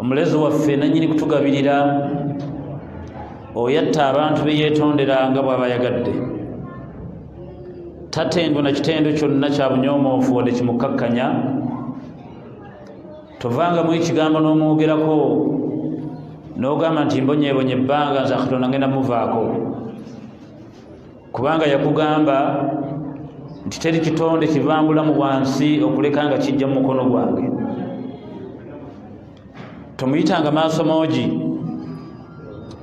omulezi waffe nanyini kutugabirira oyatta abantu beyetondera nga bwaba yagadde tatendwa na kitendo kyonna kya bunyomoofu wadde kimukkakkanya tovanga mu ekigambo n'omwogerako n'ogamba nti mbonyebonye ebbanga nze katonda ngenda muvaako kubanga yakugamba nti teri kitonde kivambulamu wansi okuleka nga kijja mu mukono gwange tomuyitanga maaso moogi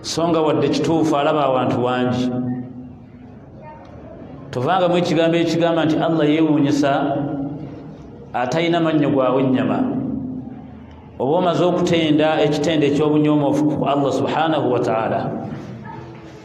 so nga wadde kituufu alaba awantu wangi tovangamu ekigambo ekigamba nti allah yewuunyisa atalina mannyo gwawe ennyama oba omaze okutenda ekitendo eky'obunyoomofu ku allah subhanahu wataala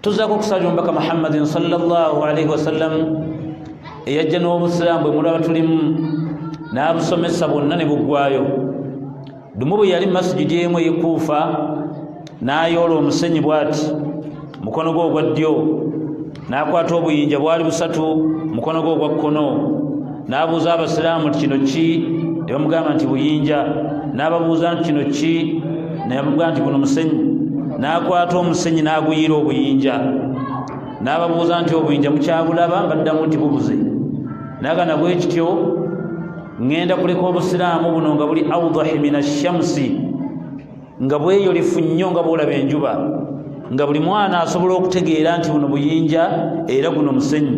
tuzaako okusabira omubaka muhammadin salllahu alaihi wasallam eyajja n'obusiraamu bwe mulaba tulimu n'abusomesa bwonna ne buggwayo lumu bwe yali masijidi emu eyekuufa n'ayoola omusenyi bw'ati mukono gwe ogwa ddyo n'akwata obuyinja bwali busatu mukono gwe ogwa kkono n'abuuza abasiraamu nti kino ki ne bamugamba nti buyinja n'ababuuza nti kino ki ne bamugamba nti guno musenyi n'akwata omusenyi n'aguyiira obuyinja n'ababuuza nti obuyinja mukyabulaba baddamu nti bubuze nagana bwe kityo ŋŋenda kuleka obusiraamu buno nga buli audahi min ashamsi nga bweyolefu nnyo nga bwolaba enjuba nga buli mwana asobola okutegeera nti buno buyinja era guno musenyu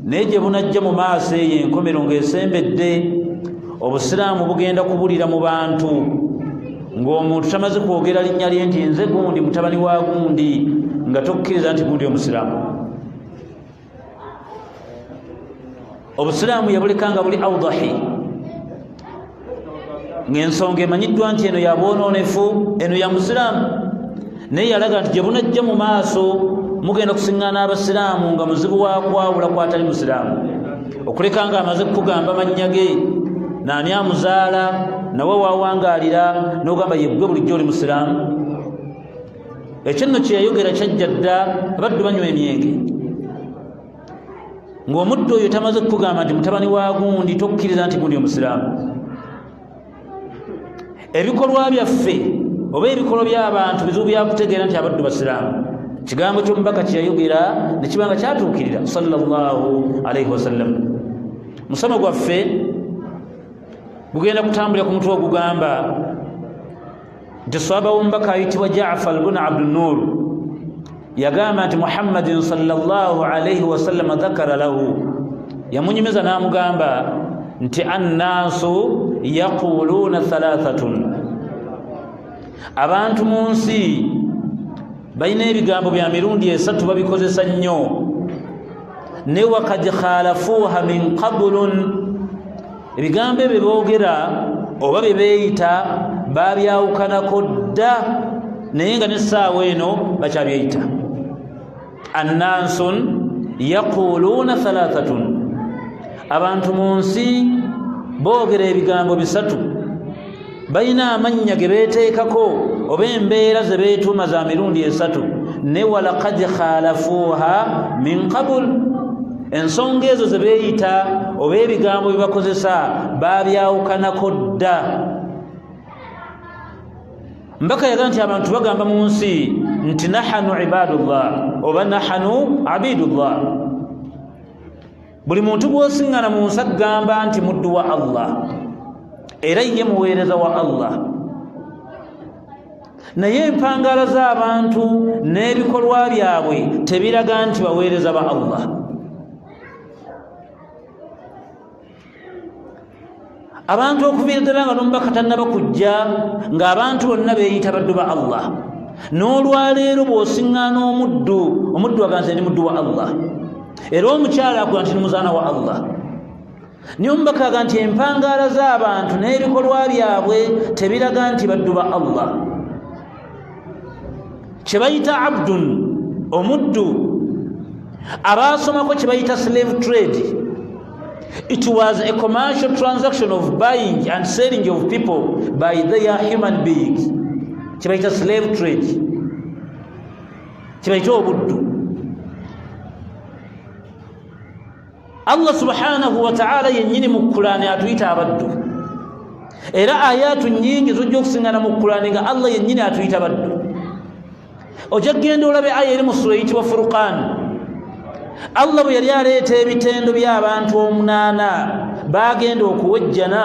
naye gye bunajja mu maaso eyo enkomero ng'esembedde obusiraamu bugenda kubulira mu bantu ng'omuntu tamaze kwogera linnya lye nti nze gundi mutabani wa gundi nga tokkiriza nti gundi omusiraamu obusiraamu yabulekanga buli audahi ng'ensonga emanyiddwa nti eno yabwonoonefu eno ya musiraamu naye yalaga nti gye bunajja mu maaso mugenda kusiŋŋaana abasiraamu nga muzibu wa kwawula kwatali musiraamu okuleka nga amaze kukugamba mannya ge naani amuzaala nawe wawangalira nogamba yegwe bulijjo oli musiraamu ekyo nno kyeyayogera kyajja dda abaddu banywa emyenge ng'omuddu oyo tamaze kukugamba nti mutabani wa gundi tokkiriza nti gundi omusiraamu ebikolwa byaffe oba ebikolwa by'abantu bizibu byakutegeera nti abaddu basiraamu kigambo ky'omubaka kyeyayogera ne kiba nga kyatuukirira sallallahu alaihi wasallam musomo gwaffe gugenda kutambulira ku mutwe ogugamba nti swaba womubaka ayitibwa jafar bun abdunur yagamba nti muhammadin salllah alaihi wasallama dhakara lahu yamunyumiza namugamba nti annaasu yaquluuna thalathatun abantu mu nsi balina ebigambo bya mirundi esatu babikozesa nnyo ne wakad khalafuuha min qabulun ebigambo ebyo boogera oba bye beeyita baabyawukanako dda naye nga n'essaawa eno bakyabyeyita annansun yaquuluuna thalathatun abantu mu nsi boogera ebigambo bisatu balina amannya ge beeteekako oba embeera ze beetuuma za mirundi esatu ne walakad khalafuuha min qabul ensonga ezo ze beeyita oba ebigambo bye bakozesa baabyawukanako dda mbaka yaga nti abantu bagamba mu nsi nti nahanu ibadullah oba nahanu abidullah buli muntu gwosiŋŋana mu nsa gamba nti muddu wa allah era ye muweereza wa allah naye empangaala z'abantu n'ebikolwa byabwe tebiraga nti baweereza ba allah abantu okuviira ddala nga nomubaka tannaba kujja ng'abantu bonna beeyita baddu ba allah n'olwaleero bw'osiŋŋaana omuddu omuddu aganze ndi muddu wa allah era omukyala agula nti nimuzaana wa allah naye omubaka aga nti empangaala z'abantu n'ebikolwa byabwe tebiraga nti baddu ba allah kye bayita abdun omuddu abaasomako kye bayita slave trade it was a commercial transaction of buying and selling of people by their human beings kye bayita slave trade kye bayita obuddu allah subhanahu wataala yennyini mu kulaani atuyita abaddu era ayaatu nyingi zojja okusingana mu kulaani nga allah yennyini atuyita baddu ojja kugenda olabe aya eri mu sula eyitibwa furukaani allah bwe yali aleeta ebitendo by'abantu omunaana baagenda okuwejjana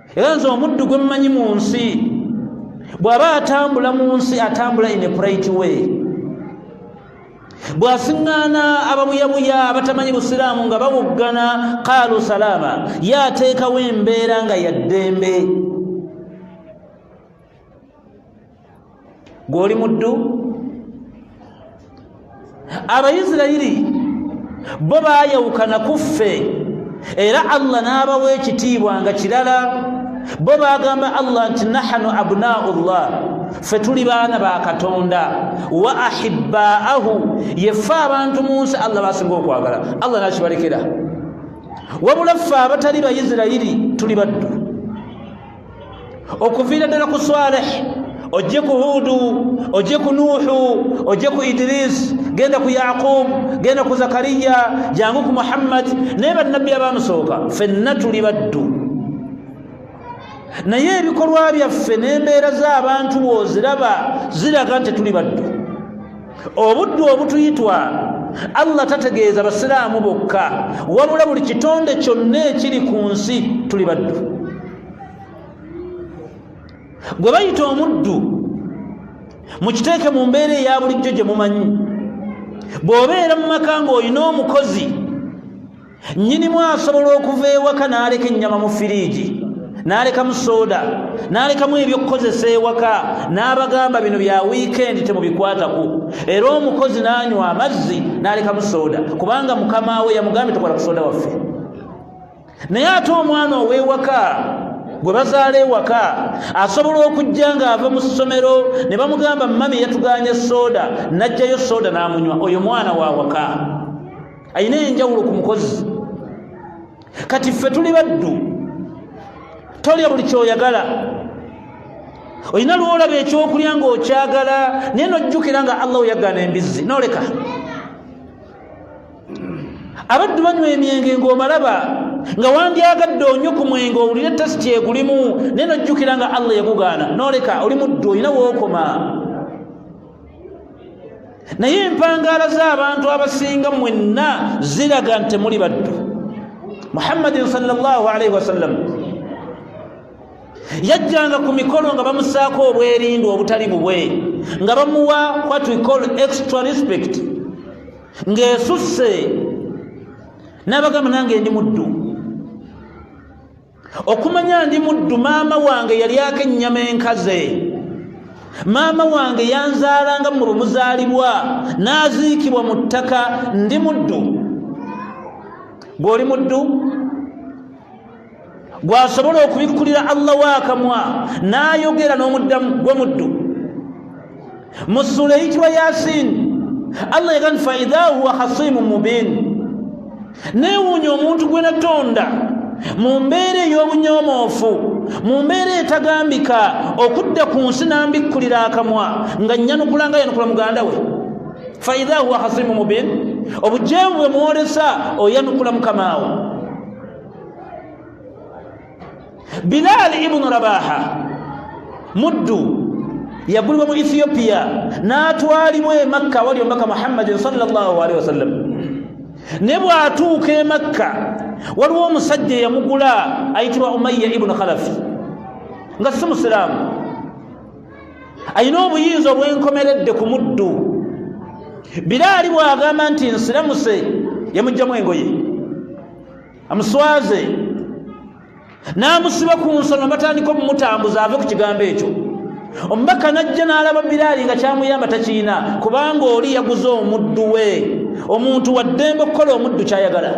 era nze omuddu gwe mmanyi mu nsi bw'aba atambula mu nsi atambula in a bright way bw'asiŋŋaana ababuyabuya abatamanyi busiraamu nga babuggana kaalu salaama ye ateekawo embeera nga ya ddembe gwoli muddu abayisirayiri bo baayawukana ku ffe era allah n'abawa ekitiibwa nga kirala bo baagamba allah nti nahanu abnaau llah ffe tuli baana ba katonda wa ahibbaahu yeffe abantu mu nsi allah basinga okwagala allah nakibalekera wabula ffe abatali bayisirayiri tuli baddu okuviira ddala ku swaleh ojje ku huudu ojje ku nuuhu ojje ku idirisi genda ku yaqub genda ku zakariya jangu ku muhammadi naye bannabbi abaamusooka fenna tuli baddu naye ebikolwa byaffe n'embeera z'abantu wooziraba ziraga nti tuli baddu obuddu obutuyitwa allah tategeeza basiraamu bokka wabula buli kitonde kyonna ekiri ku nsi tuli baddu gwe bayita omuddu mukiteeke mu mbeera eya bulijjo gye mumanyi bw'obeera mu maka ng'olina omukozi nnyinimu asobola okuva ewaka n'aleka ennyama mu firiigi n'alekamu sooda n'alekamu ebyokukozesa ewaka n'abagamba bino bya wiikendi temubikwatako era omukozi n'anywa amazzi n'alekamu sooda kubanga mukama we yamugambye tokola ku sooda waffe naye ate omwana ow'ewaka gwe bazaala ewaka asobola okujja ng'ava mu ssomero ne bamugamba mami yatuganye sooda n'ajjayo sooda n'amunywa oyo mwana wa waka alina enjawulo ku mukozi kati ffe tuli baddu tolya buli kyoyagala olina lwolaba ekyokulya ngaokyagala naye nojjukira nga allah oyagana embizzi noleka abaddu banywa emyenge ngaomalaba nga wandyagadde onyo ku mwenge owulire tasiti egulimu naye nojjukira nga allah yagugaana noleka oli muddu olina wookoma naye empangaala z'abantu abasinga mwenna ziraga nti temuli baddu muhammadin salllahalaihi wasallam yajjanga ku mikolo nga bamusaako obwerindu obutali bubwe nga bamuwa what we call extra respect ng'esusse n'abagamba nange ndi muddu okumanya ndi muddu maama wange yalyako ennyama enkaze maama wange yanzaalanga mu bumuzaalibwa n'aziikibwa mu ttaka ndi muddu gw'oli muddu gwasobola okubikkulira allah waakamwa n'ayogera n'omuddamu gwe muddu mu ssuula eyitibwa yasin allah yagani faidha huwa hasimu mubin neewuunya omuntu gwe natonda mu mbeera ey'obunyomoofu mu mbeera etagambika okudda ku nsi nambikkulira akamwa nga nnyanukula nga yanukula muganda we faidha huwa hasimu mubin obujeemu bwe mwolesa oyanukula mukamaawo bilaali ibunu rabaha muddu yagulibwa mu ethiopia n'atwalibwa e makka awali omubaka muhammadin salllahalihi wasallam ne bw'atuuka e makka waliwo omusajja eyamugula ayitibwa umayya ibunu khalafi nga si musiraamu alina obuyinza obwenkomeredde ku muddu biraali bw'agamba nti nsiramuse yamugjamu engoye amuswaze n'amusiba ku nsonga batandika omumutambuza ave ku kigambo ekyo omubaka n'ajja n'alaba biraali nga kyamuyamba takirina kubanga oli yaguze omuddu we omuntu waddembe okukola omuddu kyayagala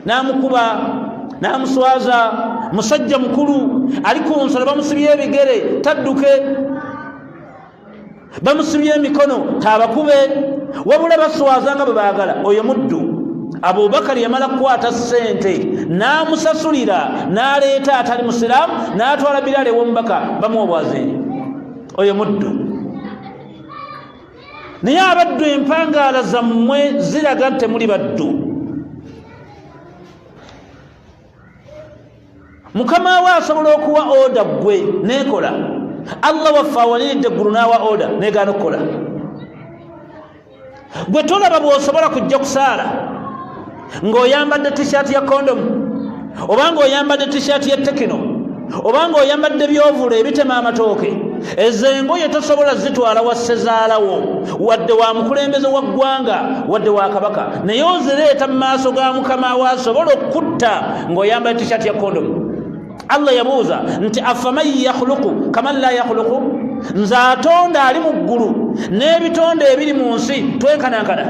n'amukuba n'amuswaza musajja mukulu ali ku nsonga bamusibye ebigere tadduke bamusibye emikono tabakube wabula baswaza nga bwe baagala oyo muddu abubakari yamala kukwata ssente n'amusasulira n'aleeta atali musiraamu n'atwala biraale ew'omubaka bamuwa obwazinyi oyo muddu naye abaddu empangaala zammwe ziraga nti temuli baddu mukama we asobola okuwa oda gwe nekola allah waffe awaliridde eggulu n'awa oda negaana okukola gwe tolaba bwosobola kujja kusaala ng'oyambadde tishaati ya kondomu oba ng'oyambadde tishaati ya tekino oba ng'oyambadde byovula ebitema amatooke ezo engoye tosobola zitwala wassezaalawo wadde wa mukulembeze wa ggwanga wadde wa kabaka naye ozireeta mu maaso ga mukama we asobola okukutta ng'oyambala tishati ya kondomu allah yabuuza nti afaman yakhuluku kaman la yakhuluku nze atonda ali mu ggulu n'ebitonde ebiri mu nsi twenkanankana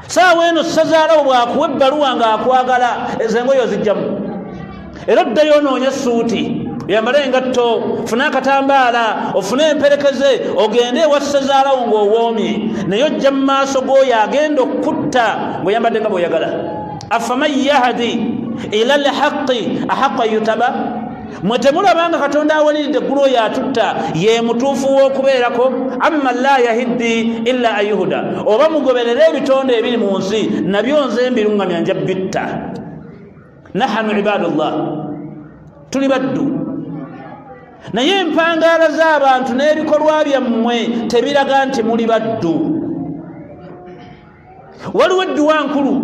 saawa eno sazaalawo bwakuwa ebbaluwa ng'akwagala ezo engoyo zijjamu era oddayo onoonya essuuti yambale engatto fune akatambaala ofune emperekeze ogende ewa ssezaalawo ng'owoomye naye ojja mu maaso g'oyo agenda okukutta ng'oyambadde nga bw'oyagala afaman yahdi ila lhaqi ahaqu an yutaba mwe temulaba nga katonda awaliridde eggulu oyo atutta ye mutuufu w'okubeerako amma la yahiddi illa ayuhuda oba mugoberere ebitonde ebiri mu nsi nabyo nze mbiruŋŋamya nja bitta nahanu ibadullah tuli baddu naye empangaala z'abantu n'ebikolwa byammwe tebiraga nti muli baddu waliwo edduwa nkulu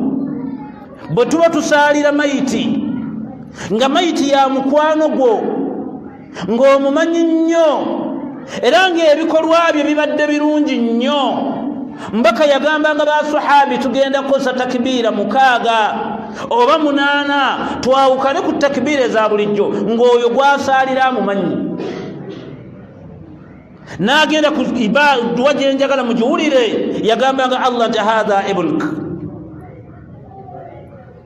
bwe tuba tusaalira mayiti nga mayiti ya mukwano gwo ng'omumanyi nnyo era ng'ebikolwa bye bibadde birungi nnyo mbaka yagambanga basuhabi tugenda kukozesa takibiira mukaaga oba munaana twawukane ku takibiira eza bulijjo ng'oyo gwasaalira amumanyi n'agenda ku duwa gye njagala mugiwulire yagambanga allah nti hatha ibnk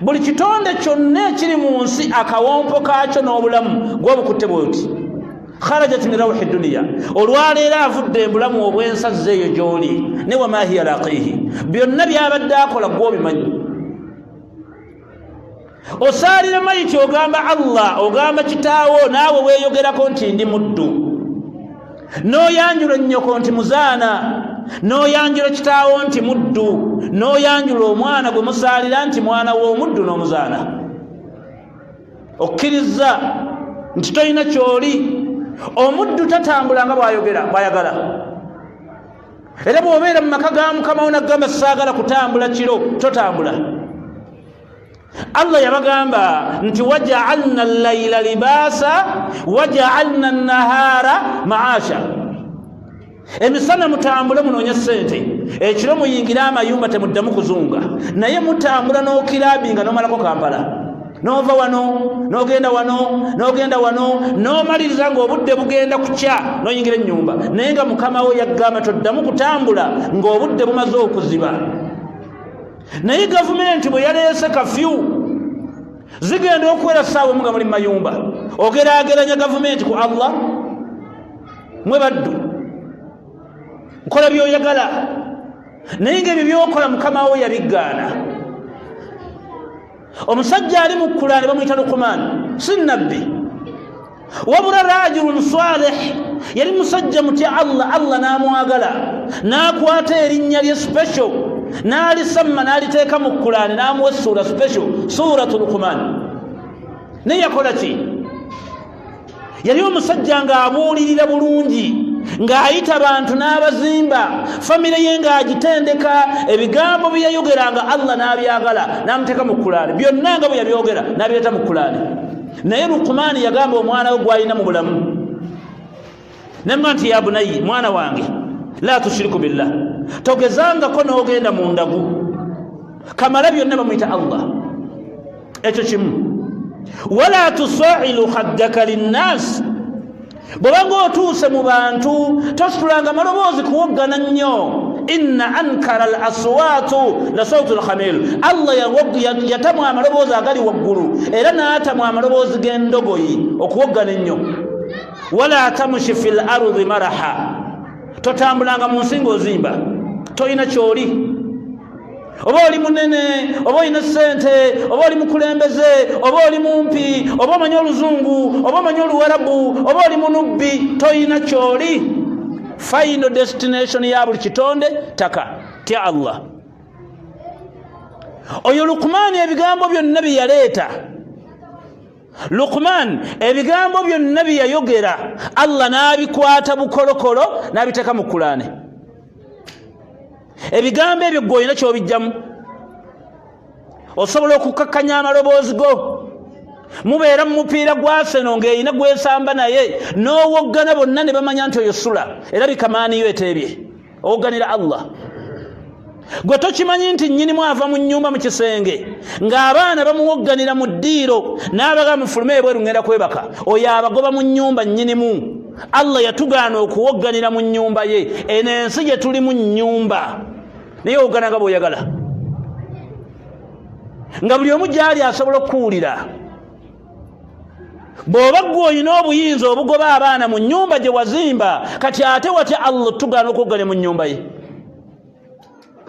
buli kitonde kyonna ekiri mu nsi akawompo kaakyo n'obulamu gwobukutte bwoti kharajat min rawhi duniya olwaleero avudde embulamu obwensazza eyo gy'oli ne wamahiya laqiihi byonna byabadde akola gwobimanyi osaalira mayiti ogamba allah ogamba kitaawo naawe weeyogerako nti ndi muddu n'oyanjula ennyoko nti muzaana n'oyanjula kitaawo nti muddu n'oyanjula omwana gwe musaalira nti mwana w'omuddu n'omuzaana okkiriza nti tolina kyoli omuddu tatambula nga bwayogera bwayagala era bw'obeera mu maka ga mukama wo naggamba saagala kutambula kiro totambula Allah yabagamba nti wajaalna al-laila libaasa wajaalna an-nahaara maasha emisana mutambule munoonye sente ekiro muyingire amayumba temuddamu kuzunga naye mutambula n'okirabi nga nomalako kampala nova wano nogenda wano nogenda wano nomaliriza ngaobudde bugenda kukya noyingira enyumba naye nga mukamawo yagamba toddamu kutambula ngaobudde bumaze okuziba naye gavumenti bwe yaleese kafyu zigenda okuwera saawa omu nga muli mumayumba ogerageranya gavumenti ku allah mwe baddu nkola byoyagala naye nga ebyo byokola mukama wo yabiggaana omusajja ali mu kulaane bamuyita lukumaani si nabbi wabula rajulun salih yali musajja mutya allah allah n'amwagala n'akwata erinnya lye special n'alisamma n'aliteeka mu kulaane n'amuwa essuula special suratu lukumaani naye yakola ki yali omusajja ng'abuulirira bulungi ng'ayita bantu n'abazimba famire ye ng'agitendeka ebigambo bye yayogeranga allah n'abyagala n'amuteeka mu kulaani byonna nga bwe yabyogera n'abireeta mu kulaani naye lukumaani yagamba omwana we gw'alina mu bulamu nemga nti ya bunayi mwana wange la tushiriku billah togezangako n'ogenda mu ndagu kamala byonna bamuyita allah ekyo kimu wala tusailu haddaka linnaasi bwebanga otuuse mu bantu tositulanga maloboozi kuwoggana nnyo inna ankara al aswaatu la sautu lhamil allah yatamwa amaloboozi agali waggulu era n'atamwa amaloboozi g'endogoyi okuwoggana ennyo wala tamushi fi lardi maraha totambulanga mu nsi ngaozimba tolina kyoli oba oli munene oba olina sente oba oli mukulembeze oba oli mumpi oba omanyi oluzungu oba omanyi oluwarabu oba oli munubbi tolina kyoli final destination ya buli kitonde taka tya allah oyo lukumaani ebigambo byonna bye yaleeta lukman ebigambo byonna bye yayogera allah n'abikwata bukolokolo n'abiteeka mu kulaane ebigambo ebyo gwe olina kyobijjamu osobola okukakkanya amaloboozi go mubeera mu mupiira gwaseno ng'erina gwesamba naye n'owoggana bonna ne bamanya nti oyo sula era bikamaaniyo eteebye oganira allah gwe tokimanyi nti nyinimu ava mu nyumba mu kisenge ng'abaana bamuwogganira mu ddiiro n'abaga mufulume ebweru ŋŋenda kwebaka oyo abagoba mu nyumba nyinimu allah yatugaana okuwogganira mu nyumba ye eno ensi gye tuli mu nyumba naye owoggana nga bw'oyagala nga buli omu gy'ali asobola okukuwulira bw'oba ggwe olina obuyinza obugoba abaana mu nnyumba gye wazimba kati ate watya allah tugaana okuggale mu nnyumba ye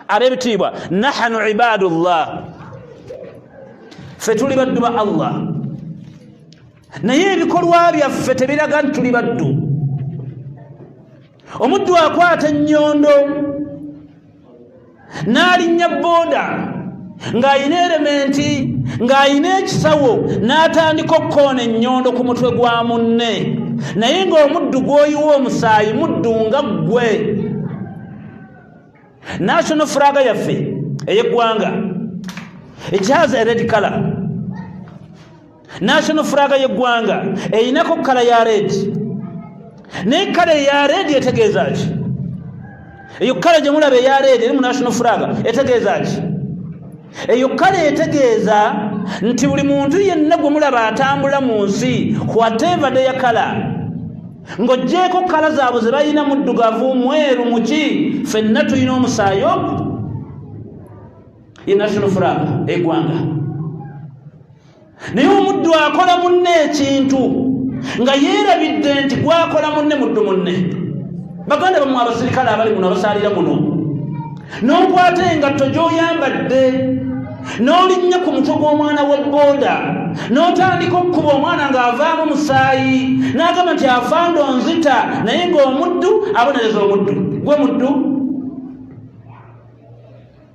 ab'ebitiibwa nahanu ibaadu llah ffe tuli baddu ba allah naye ebikolwa byaffe tebiraga nti tuli baddu omuddu akwata ennyondo n'alinnya booda ng'alina erementi ng'alina ekisawo n'atandika okukoona ennyondo ku mutwe gwa munne naye ng'omuddu gw'oyiwa omusaayi muddu nga ggwe national furaga yaffe ey'eggwanga it has a red color national furaga yeggwanga erinako kala ya redi naye kala eya redi etegeeza ki eyo kala gyemulaba eya redi eri mu national furaga etegeeza ki eyo kala etegeeza nti buli muntu yenna gwe mulaba atambula mu nsi kwatevade ya kala ng'ogyeko kala zaabwe ze balina muddugavu mweru muki fenna tulina omusaayi ogu ye national furaga egwanga naye omuddu akola munne ekintu nga yeerabidde nti gwakola munne muddu munne baganda bamu abasirikale abali muno abasaalira muno n'okwata engatto gy'oyambadde n'olinnya ku mutwe gw'omwana wa booda n'otandika okukuba omwana ng'avaamu musaayi n'agamba nti afando nzita naye ng'omuddu abonereza omuddu gwe muddu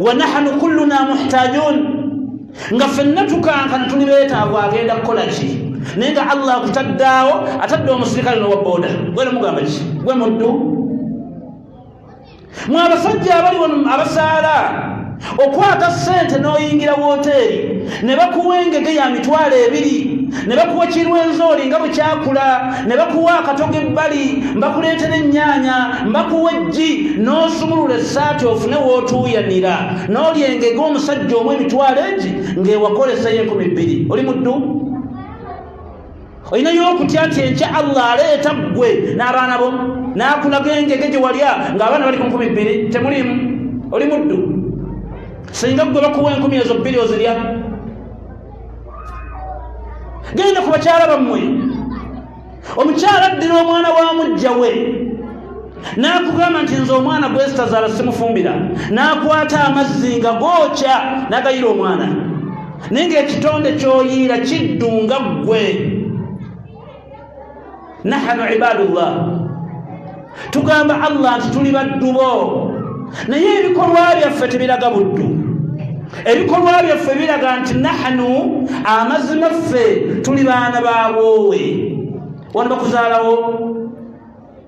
wa nahnu kulluna muhtajun nga fenna tukankana tuli betaavu agenda kukola ki naye nga allah akutaddaawo atadde omusirikale nowaboda gwena mugamba ki gwe muddu mwe abasajja abali wano abasaala okwata sente n'oyingira woteeri ne bakuwa engege ya mitwalo ebiri ne bakuwa kirwenzooli nga bwe kyakula ne bakuwa akatoga ebbali mbakuleetera ennyaanya mbakuwa eggi n'osumulula essaati ofune w'otuuyanira n'olya engege omusajja omu emitwalo egi ng'ewakolesayo enkumi bbiri oli muddu olinayo okutya nti enkya allah aleeta ggwe n'abaana bo n'akulaga engege gye walya ng'abaana bali ku nkumi bbiri temuliimu oli muddu singa ggwe bakuwa enkumi ezo bbiri ozirya genda ku bakyala bammwe omukyala addira omwana wa mujja we n'akugamba nti nze omwana gwesitazaala simufumbira n'akwata amazzi nga gookya n'agayira omwana naye ngaekitonde kyoyiira kiddu nga ggwe nahanu ibadullah tugamba allah nti tuli baddubo naye ebikolwa byaffe tebiraga buddu ebikolwa byaffe biraga nti nahanu amazima ffe tuli baana babwowe wano bakuzaalawo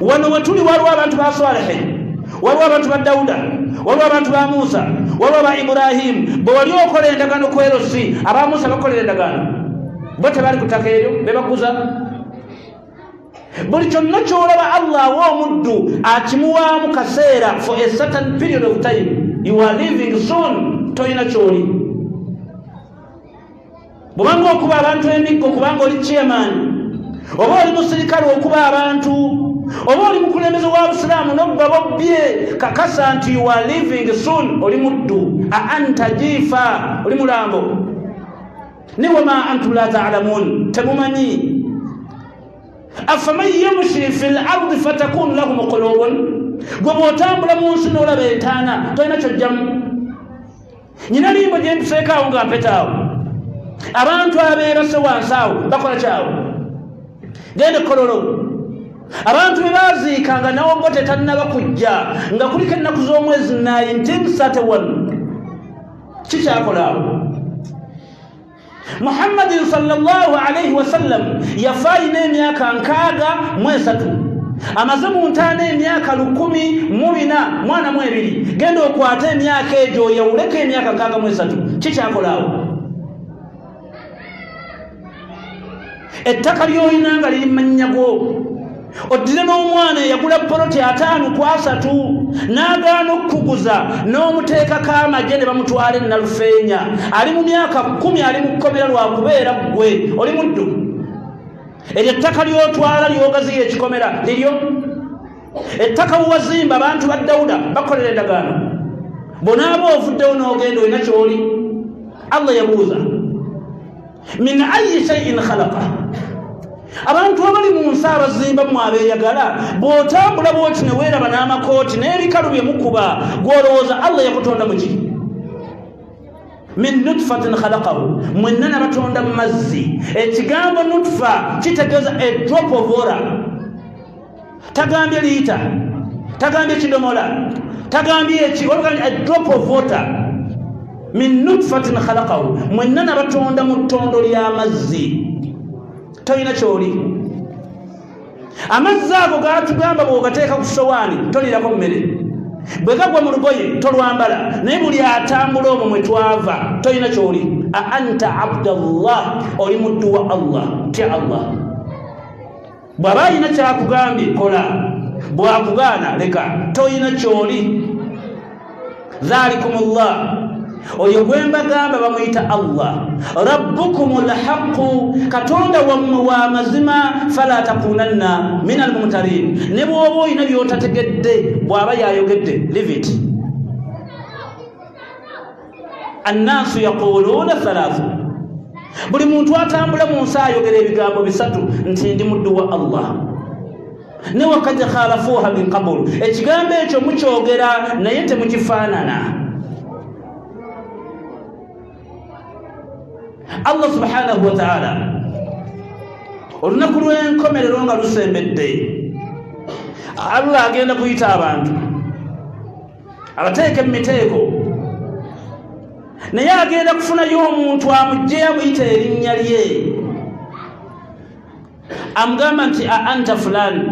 wano wetuli waliwo abantu ba salihi waliwo abantu ba dawuda waliwo abantu ba musa waliwo ba iburahimu bwewali okola endagaano kwerosi aba musa bakolera endagaano bo tebali kutaka eryo bebakuza buli kyonna kyolaba allah awa omuddu akimuwaamu kaseera for a certain period of time you are living soon tolina kyoli bwobanga okuba abantu emiggo kubanga oli chairman oba oli musirikale okuba abantu oba oli mukulembeze wa busiraamu nobba bobbye kakasa nti you are living soon oli muddu a anta jiifa oli mulambo ni wama antum la taalamun temumanyi afaman yamshi fi lardi fatakunu lahu mukulubun gwe bwotambula mu nsi nolaba entaana tolina kyojjamu nyina limbo gye ntuseeko awo nga mpeta awo abantu abeerase wansi awo bakola kyawo gende kololo abantu be baaziika nga nawogo tetannaba kujja nga kuliko ennaku z'omwezi 1931 kikyakola awo muhammadin salllahu alaihi wasallam yafa alina emyaka nkaaga mu esatu amaze mu ntaana emyaka lukumi mu bina mwana mu ebiri genda okwate emyaka egyo oyawuleko emyaka nkaaga mu esatu kikyakolaawo ettaka lyolina nga liri mannya gwo oddire n'omwana eyagula poloti ataano ku asatu n'agaana okukuguza n'omuteekako amagye ne bamutwala enalufeenya ali mu myaka kkumi ali mu kkomera lwa kubeera ggwe oli muddu eryo ettaka ly'otwala lyogaziya ekikomera liryo ettaka buwazimba abantu ba dawuda bakolera endagaano bonaaba ovuddewo n'ogenda olina kyoli allah yabuuza min ayi shaiin khalaqa abantu abali mu nsi abazimba mu abeeyagala bw'otambula bwoti ne weeraba n'amakooti n'ebikalu bye mukuba gw'olowooza allah yakutonda mu ki min nutfatin khalaqahu mwenna nabatonda mu mazzi ekigambo nutfa kitegeeza a drop of water tagambye liita tagambye kidomola tagambye eki drop of water min nutfatin khalaqahu mwenna nabatonda mu ttondo ly'amazzi tolina kyoli amazzi ago gatugamba bwogateeka ku sowaani tolirako mmere bwe gagwa mu lugoye tolwambala naye buli atambula omwo mwe twava tolina kyoli a anta abdallah oli muddu wa allah tya allah bw'aba alina kyakugambye kola bwakugaana leka tolina kyoli dhalikum llah oyo gwe mbagamba bamuyita allah rabbukum lhaqu katonda wammwe wa mazima fala takunanna min almumtarin ne bwoba olina byotategedde bw'aba yayogedde livit annaasu yaquluuna thalaathu buli muntu atambula mu nsi ayogera ebigambo bisatu nti ndi muddu wa allah ne wakad khalafuuha min qabulu ekigambo ekyo mukyogera naye temukifaanana allah subhanahu wataala olunaku lw'enkomerero nga lusembedde allah agenda kuyita abantu abateeke mu miteeko naye agenda kufunayo omuntu amugjeyo amuyita erinnya lye amugamba nti a anta fulani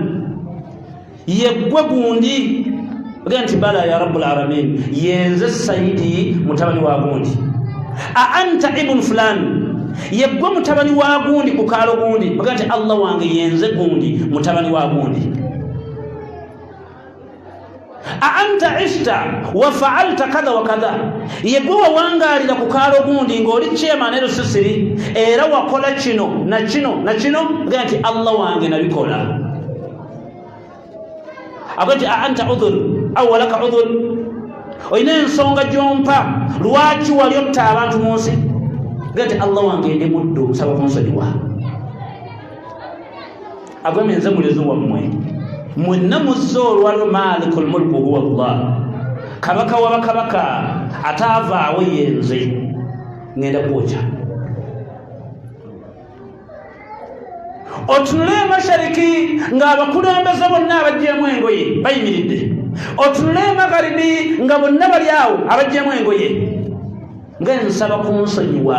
yeggwe gundi ogenda nti bala ya rabu lalamin yenze sayidi mutabani wa gundi a anta ibunu fulani yeggwe mutabani wa gundi ku kaalo gundi ogenda nti allah wange yenze gundi mutabani wa gundi aanta ishta wafaalta kadha wakadha yegwe wawangalira ku kaalo gundi ngaoli kyema ne lusisiri era wakola kino nakino nakino gee nti allah wange nabikola ago nti aanta udhur au walaka udhur olina ensonga gyompa lwaki wali otta abantu mu nsi gee nti allah wange ndi muddu nsaba kunsonyiwa agambye nze mulezi wammwe mwenna muzze olwalo maliku lmulku huwa llah kabaka wa bakabaka ataavaawo yenze ŋenda kwokya otunule emashariki ng'abakulembeze bonna abajjeemu engoye bayimiridde otunule emagharibi nga bonna bali awo abajjeemu engoye nga nsaba kunsonyiwa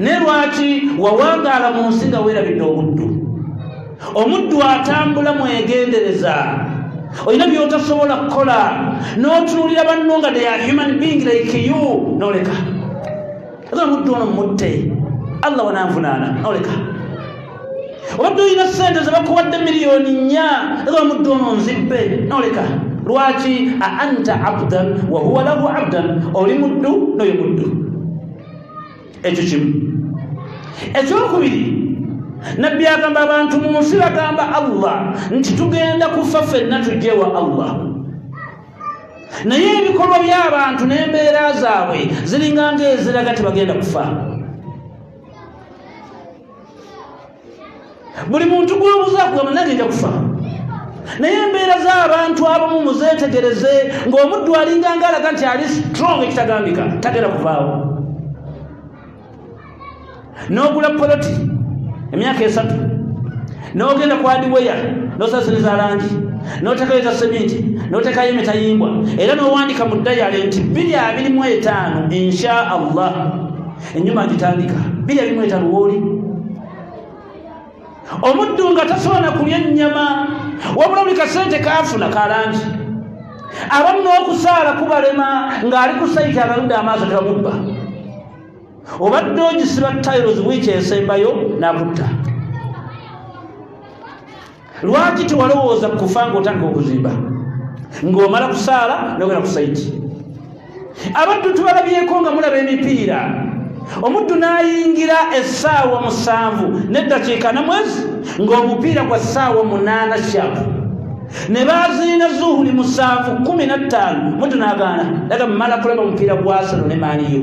ne lwaki wawangaala mu nsi nga weerabidde obuddu omuddu atambula mwegendereza olina byotasobola kukola n'otunuulira banno nga deya human being like you noleka aga omuddu ono mutte allah wananvunaana noleka obadde olina sente zebakuwadde miliyoni nnya era omuddu ono nzibbe noleka lwaki a anta abdan wahuwa lahu abdan oli muddu noyo muddu ekyo kimu ekyokubiri nabbi agamba abantu mu nsi bagamba allah nti tugenda kufa fenna tujja ewa allah naye ebikolwa by'abantu n'embeera zaabwe ziringa ngaeziraga tebagenda kufa buli muntu gwobuza kugamba nange nja kufa naye embeera z'abantu abamu muzeetegereze ng'omuddu alinga nga alaga nti ali strong ekitagambika tagenda kuvaawo n'ogula poloti emyaka esatu n'ogenda ku adiweya n'osasiriza langi n'otekayo eza seminti n'otekayo emitayimbwa era n'owandika mu dayale nti biri abiri mu etaano insha allah enyuma agitandika biri ebimu etaluwooli omuddu nga tasobola kulya ennyama wabula buli kasente kaafuna kalangi abamu n'okusaala kubalema ng'ali ku sayiti abaludde amaaso tebamubba obadde ogisiba tairos wiiki esembayo nakutta lwaki tewalowooza ku kufa ng'otandika okuzimba ng'omala kusaala nogenda ku saiti abaddu tubalabyeko nga mulaba emipiira omuddu n'ayingira essaawa musanvu n'eddakiika na mwezi ng'omupiira gwa ssaawa munaana shapu ne baziina zuhuli musanvu kumi na ttaano muddu n'agaana daga mumala kulaba omupiira gwasano ne maaniyo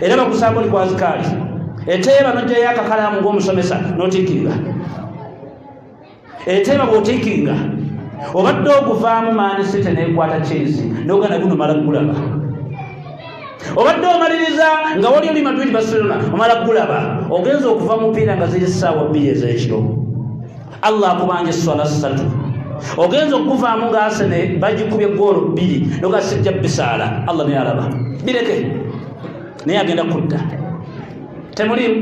era bakusaako oli kwazikaali eteeba nojjayo akakalaamu ng'omusomesa notikinga eteeba bwotikinga obadde oguvaamu maani site nekwata kyezi nogana gunomala gulaba obadde omaliriza nga wali oli madrid barcelona omala gulaba ogenza okuva mupiira nga ziri saawa bbiri ez'ekiro allah akubanja esswala ssatu ogenza okuvaamu nga asene bagikubye goolo bbiri noga sijja bisaala allah naye alaba bireke naye agenda kudda temulimu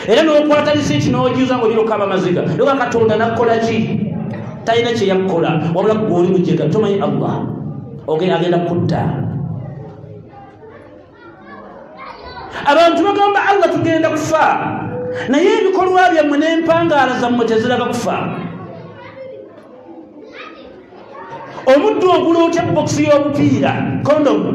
era nokwata lisiiti nojuza nga olina okukaba amaziga noga katonda nakukola ki talina kyeyakukola wabula gweoli mujega tomanyi allah ogenda kudda abantu bagamba allah tugenda kufa naye ebikolwa byammwe n'empangaala zammwe teziraga kufa omuddu ogula otya bokisi y'obupiira kondomu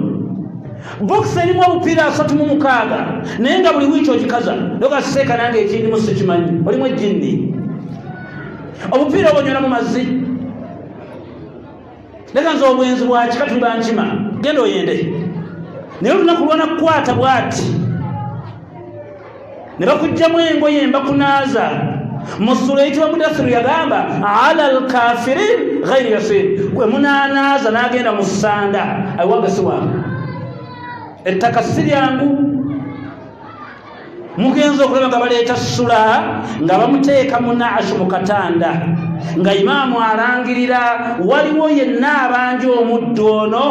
bokisi erimu obupiira asatu mu mukaaga naye nga buli wiiki ogikaza nogaseeka nange ekindimu sikimanyi olimu ejjinni obupiira obonyona mu mazzi leka nze obwenzi bwakika tuli bankima genda oyende naye olunaku lwana kukwata bwati ne bakugjamu engoye mbakunaaza musula eyitibwa mudasiru yagamba ala lkafirin ghairi yasir gwe munanaaza nagenda mu ssanda awaga siwange ettaka si lyangu mugenza okulaba nga baleeta sula nga bamuteeka munaasu mu katanda nga imaamu alangirira waliwo yenna abanja omuddu ono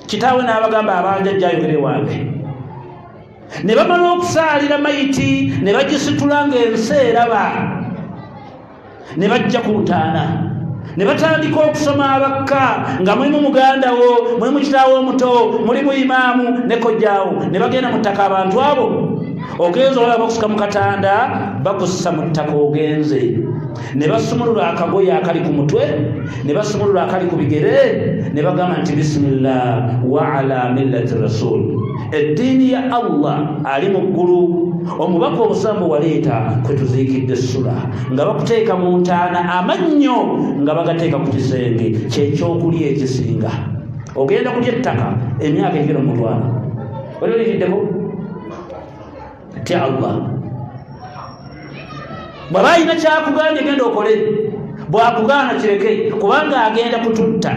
kitaawe n'abagamba abanja jjayogere wange ne bamala okusaalira mayiti ne bagisitula ng'ensi eraba ne bajja ku ntaana ne batandika okusoma abakka nga mulimu muganda wo mulimu kitaawo omuto mulimu imaamu ne kojjaawo ne bagenda mu ttaka abantu abo ogenze olaba bakusika mu katanda bakussa mu ttaka ogenze ne basumulula akagoye akali ku mutwe ne basumulula akali ku bigere ne bagamba nti bisimillah wa ala millati rasuli eddiini ya allah ali mu ggulu omubaka omusambo waleeta kwe tuziikidde essula nga bakuteeka mu ntaana amannyo nga bagateeka ku kisenge kyekyokulya ekisinga ogenda kulya ettaka emyaka egera mutwana oli oliriddeku atya allah bwaba alina kyakugambye genda okole bwakugaana kireke kubanga agenda kututta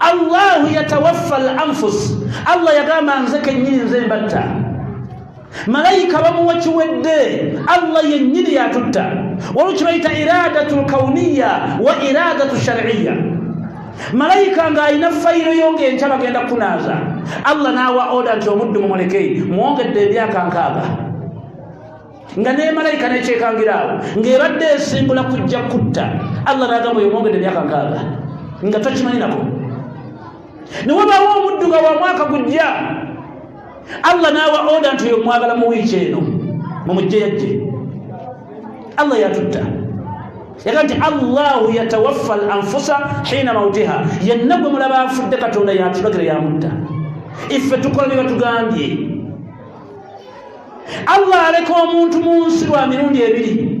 allahu yatawaffa al anfus allah yagamba nze kenyini nze mbatta malayika bamuwa kiwedde allah yennyini yatutta waliwo kibayita iradatu lkauniya wa iradatu shariya malayika ng'alina fayiro yo ng'enkya bagenda kunaaza allah n'awa oda nti omuddu mumuleke mwongedde emyaka nkaaga nga ne malayika nekyekangira awo ng'ebadde esimbula kujja kutta allah n'agamba oyo mwongedde emyaka nkaaga nga tokimanyi nako ne wabaawo omuddu nga wa mwaka gujja allah naawa oda nti oyo mwagala mu wiiki eno mumujje yajje allah yatutta yaga nti allahu yatawaffa al anfusa hiina mautiha yenna gwe mulaba afudde katonda yatulagira yamutta iffe tukola bye batugambye allah aleka omuntu mu nsi lwa mirundi ebiri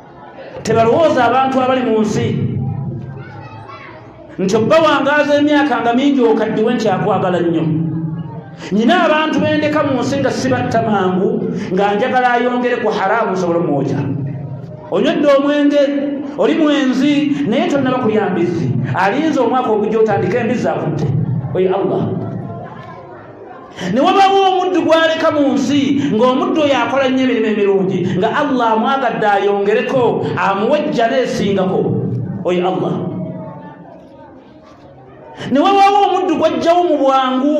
tebalowooza abantu abali mu nsi nti obbawangaaza emyaka nga mingi okaddiwe nti akwagala nnyo nyina abantu bendeka mu nsi nga sibatta mangu nga njagala ayongere ku haraamu nsobola omwoja onywedde omwenge oli mwenzi naye tonnaba kulya mbizzi alinza omwaka ogujja otandika embizzi akutte oye allah ne wabaawo omuddu gw'aleka mu nsi ng'omuddu oyo akola nnyo emirimu emirungi nga allah amwagadde ayongereko amuwe ejjana esingako oyo allah ne wabaawo omuddu gw'ajjawo mu bwangu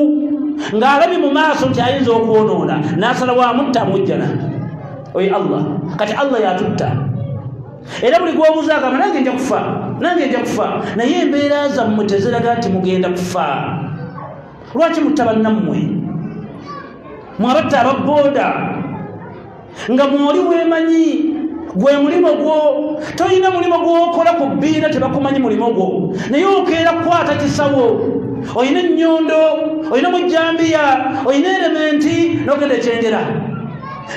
ng'alabye mu maaso nti ayinza okwonoona n'asala wamutta mujjana oyo allah kati allah yatutta era buli gwobuuza agamba nange nja kufa nange nja kufa naye embeera zammwe teziraga nti mugenda kufa lwaki mutta bannammwe mwabatta ababooda nga mwoli wemanyi gwe mulimu gwo tolina mulimu gwokola ku bbiina tebakumanyi mulimu gwo naye okeera kukwata kisawo olina ennyondo olina mujjambiya olina erementi nogenda ekyengera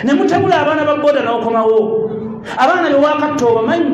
ne mutabula abaana ba boda n'okomawo abaana bewakatta obamanyi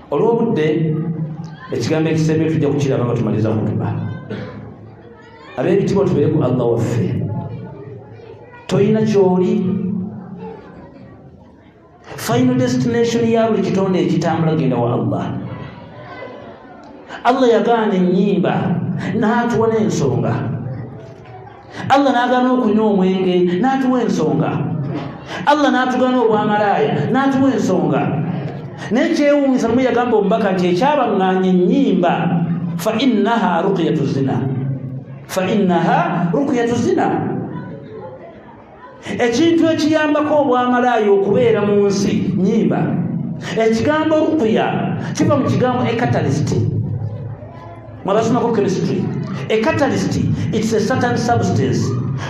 olw'obudde ekigambo ekisembye tujja kukiraba nga tumaliza kutuba ab'ebitibwa tubeere ku allah waffe tolina kyoli final destination ya buli kitonde ekitambula genda wa allah allah yagaana ennyimba n'atuwa n'ensonga allah n'agaana okunywa omwenge n'atuwa ensonga allah n'atugana obwamalaaya n'atuwa ensonga naye kyewuunyisa lumu yagamba omubaka nti ekyabaŋŋaanya ennyimba fa innaha rukiyatu zina fa innaha rukiyatu zina ekintu ekiyambako obwamalaaya okubeera mu nsi nyimba ekigambo rukuya kiva mu kigambo ecatalist mwabasomako chemistry ecatalist its a certain substance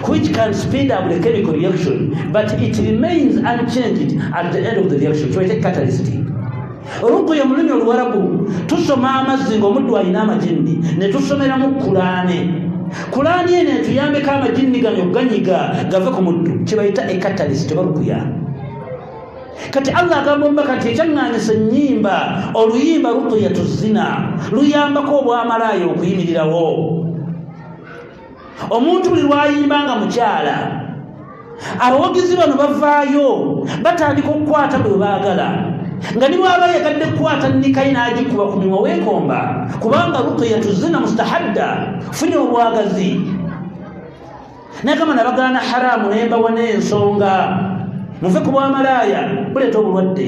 which can speed up the chemical reaction but it remains unchanged at the end of the reaction so it's a catalyst rukuya mululimi oluwarabu tusoma amazzi nga omuddu alina amajinni netusomeramu kulaane kulaani eno etuyambeko amajinni ganyo ganyiga gave ku muddu kyebayita ekatalisi tebarukuya kati allah agamba omubaka nti ekyaŋŋanyisa ennyimba oluyimba rukuya tuzina luyambako obwamalaayo okuyimirirawo omuntu buli lwayimba nga mukyala abawagizi bano bavaayo batandika okukwata bwe baagala nga ni bwaba yagadde kukwata nikayi n'agikuba ku mumwa weekomba kubanga rukiya tuzina mustahadda funye obwagazi nagamba nabagaana haramu nembawa n'ensonga muve ku bwamalaaya buleeta obulwadde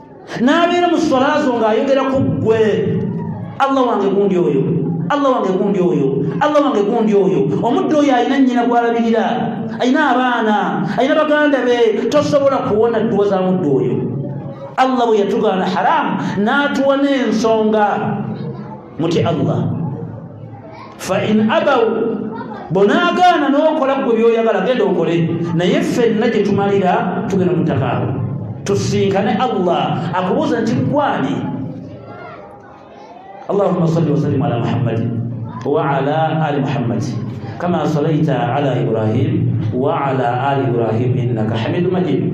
n'abeera mu swala zo ng'ayogera ku ggwe allah wange gundi oyo allah wange gundi oyo allah wange gundi oyo omuddu oyo alina nnyina gw'alabirira alina abaana alina baganda be tosobola kuwona dduwa za muddu oyo allah bwe yatugaana haramu n'atuwa n'ensonga mutye allah fain abau bonaagaana n'okola gwe byoyagala genda okole naye ffenna gye tumalira tugenda mutakaabo tusinkane allah akubuuza nti gwani allahuma salli wasallimu ala muhammadi waala ali muhammadi kama salaita ala ibrahim waala ali ibrahim innaka hamidu majidi